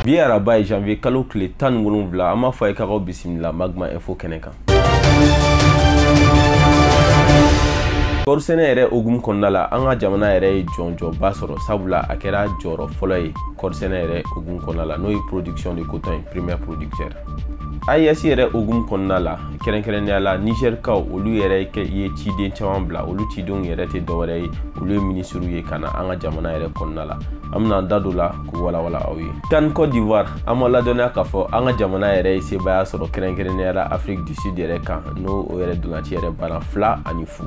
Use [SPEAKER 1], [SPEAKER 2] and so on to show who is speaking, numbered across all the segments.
[SPEAKER 1] bi araba ye janvier kalo tile tan ni wolonwula an b'a fɔ a ye k'aw bisimila magma info kɛnɛ kan kɔɔrisɛnɛ yɛrɛ hukumu kɔnɔna la an ka jamana yɛrɛ ye jɔnjɔnba sɔrɔ sabula a kɛra jɔyɔrɔ fɔlɔ ye kɔɔrisɛnɛ yɛrɛ hukumu kɔnɔna la n'o ye production de coton ye premier producteur AES yɛrɛ hukumu kɔnɔna la kɛrɛnkɛrɛnnenya la nizɛrikaw olu yɛrɛ ye ciden caman bila olu cidenw yɛrɛ tɛ dɔwɛrɛ ye olu ye minisiriw ye ka na an ka jamana yɛrɛ kɔnɔna la an bɛna an da don la k'u walawala aw ye CAN Côte d'Ivoire an b'aw ladɔnniya k'a fɔ an ka jamana yɛrɛ ye sebaaya sɔrɔ kɛrɛnkɛrɛnnenya la Afrique du Sud yɛrɛ kan n'o yɛrɛ ntolaci yɛrɛ banna fila ani fu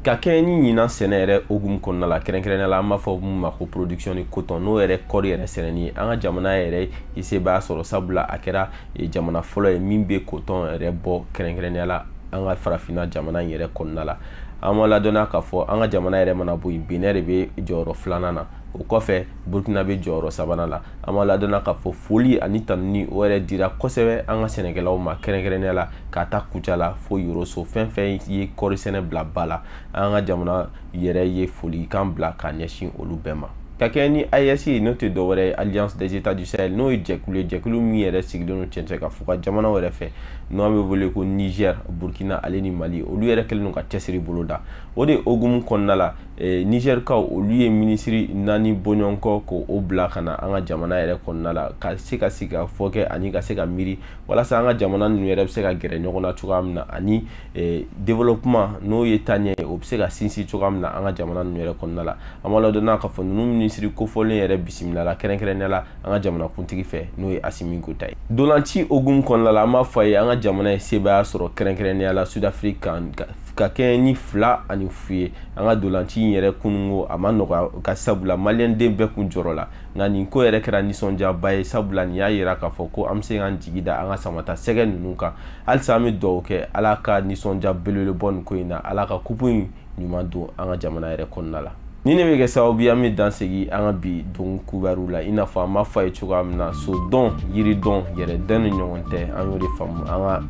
[SPEAKER 1] ka kɛɲɛ ni ɲinan sɛnɛ yɛrɛ hukumu kɔnɔna la kɛrɛnkɛrɛnnenya la an b'a fɔ mun ma ko production de coton n'o yɛrɛ kɔɔri yɛrɛ sɛnɛni ye an ka jamana yɛrɛ ye sebaaya sɔrɔ sabula a kɛra e, jamana fɔlɔ ye min bɛ coton yɛrɛ bɔ kɛrɛnkɛrɛnnenya la an ka farafinna jamana in yɛrɛ kɔnɔna la an b'aw ladɔnniya k'a fɔ an ka jamana yɛrɛ mana bɔ yen benin de bɛ jɔyɔrɔ filanan na o kɔfɛ burkina bɛ jɔyɔrɔ sabanan la an b'aw ladɔnniya k'a fɔ foli ani tanuni o yɛrɛ dira kosɛbɛ an ka sɛnɛkɛlaw ma kɛrɛnkɛrɛnnenya la k'a ta kucala fo yoroso fɛn fɛn ye kɔɔri sɛnɛ bila ba la an ka jamana yɛrɛ ye folikan bila ka ɲɛsin olu bɛɛ ma ka kɛɲɛ ni AES ye n'o tɛ dɔwɛrɛ ye Alliance des États du Sahel n'o ye jɛkulu ye jɛkulu min yɛrɛ sigilen don cɛncɛn kan fuga jamanaw yɛrɛ fɛ n'o an bɛ wele ko Niger Burkina ale ni Mali olu yɛrɛ kɛlen don ka cɛsiri boloda o de hukumu kɔnɔna la Eh, nizɛrikaw olu ye minisiri naani bɔɲɔgɔnko k'o bila ka na an ka jamana yɛrɛ kɔnɔna la ka se ka sigikafɔ kɛ ani ka se ka miiri walasa an ka jamana ninnu yɛrɛ bɛ se ka gɛrɛ ɲɔgɔn na cogoya min na ani eh, développement n'o ye taaɲɛ ye o bɛ se ka sinsin cogoya min na an ka jamana ninnu yɛrɛ kɔnɔna la an b'aw ladɔnniya k'a fɔ ninnu minisiri kofɔlen yɛrɛ bisimilala kɛrɛnkɛrɛnnenya la an ka jamanakuntigi fɛ n'o ye Assimi Goïta ye ntolaci hukumu kɔnɔna la an b'a fɔ a ye an ka jamana ye sebaaya sɔrɔ kɛrɛnkɛrɛnnenya la Sud-Afrique kan ka kɛɲɛ ni fila ani fu ye an ka ntolaci in yɛrɛ kununko a ma nɔgɔya ka sabula maliyɛnden bɛɛ kun jɔrɔla nka nin ko yɛrɛ kɛra nisɔndiyaba ye sabula nin y'a yira k'a fɔ ko an bɛ se k'an jigi da an ka samatasɛgɛ ninnu kan halisa an bɛ dugawu kɛ ala ka nisɔndiya belebele bɔ nin ko in na ala ka kupu in ɲuman don an ka jamana yɛrɛ kɔnɔna la nin de bɛ kɛ sababu ye an bɛ dan sigi an ka bi don kubaruw la i n'a fɔ an b'a fɔ a ye cogoya min na so dɔn yiri dɔn yɛrɛ dɔn de ɲɔgɔn tɛ an y'o de faamu an ka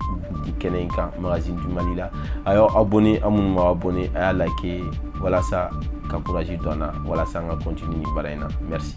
[SPEAKER 1] bi kɛnɛ in kan magazine du mali la a y'aw abonné aw minnu m'aw abonné a y'a like walasa ka courage don an na walasa an ka continuer ni baara in na merci